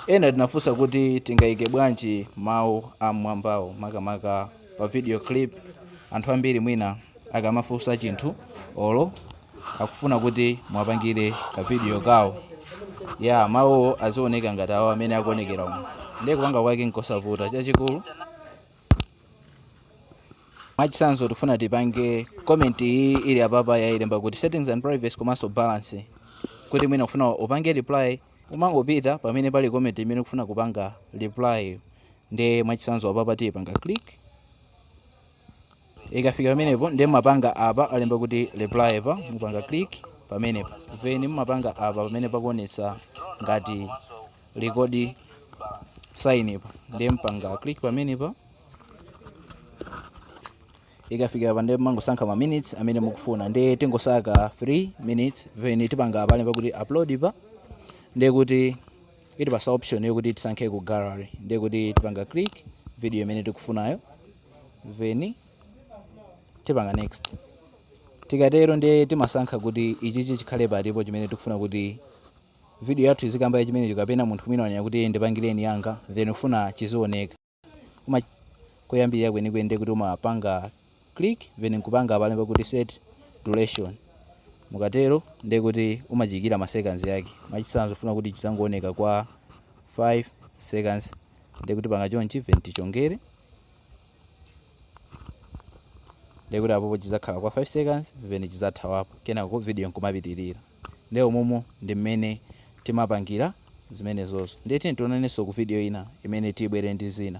Ena munafunsa kuti tingaike bwanji mawu am'mwambawo makamaka pa video clip. Anthu ambiri mwina akamafunsa chinthu olo akufuna kuti muwapangire ka video kawo, ya mawuwo azioneka ngati awo amene akuonekera umu. Ndiye kupanga kwake n'kosavuta. Chachikulu Mwachitsanzo tikufuna tipange comment iyi ili apapa yayilemba kuti settings and privacy komanso balance kuti mwina ukufuna upange reply Umangopita pamene pali comment imene ukufuna kupanga reply yo. Nde mwachitsanzo apapa tipanga click. Ikafika pamenepo nde mumapanga apa alemba kuti reply pa mupanga click pamenepo. Then mumapanga apa pamene pakuonetsa ngati record sign pa. Nde mupanga click pamenepa. Ikafika apa ndiye mmangosankha ma minutes amene mukufuna ndiye tingosankha 3 minutes then tipanga apa alemba kuti upload pa ndiye kuti itipatsa option yokuti tisankhe ku gallery ndiye kuti tipanga click video imene tikufunayo then tipanga next tikatero ndiye timasankha kuti ichichi chikhale pati chimene tikufuna kuti video yathu izikamba ya chimenecho kapena munthu mwina wanena kuti ndipangireni yanga then ufuna chizioneka Mkoyambirira kwenikweni ndiye kuti umapanga click then nkupanga apa alemba kuti set duration mukatero ndiye kuti umachiyikira ma seconds yake mwachitsanzo ufuna kuti chidzangooneka kwa 5 seconds ndiye kuti upanga chonchi then tichongere ndiye kuti apopo chidzakhala kwa 5 seconds then chidzathawapo kenako video nkumapitirira Ndiye umomo ndi mmene timapangira zimenezozo. Ndiye tiyeni tionanenso ku video ina imene tibwere ndi zina.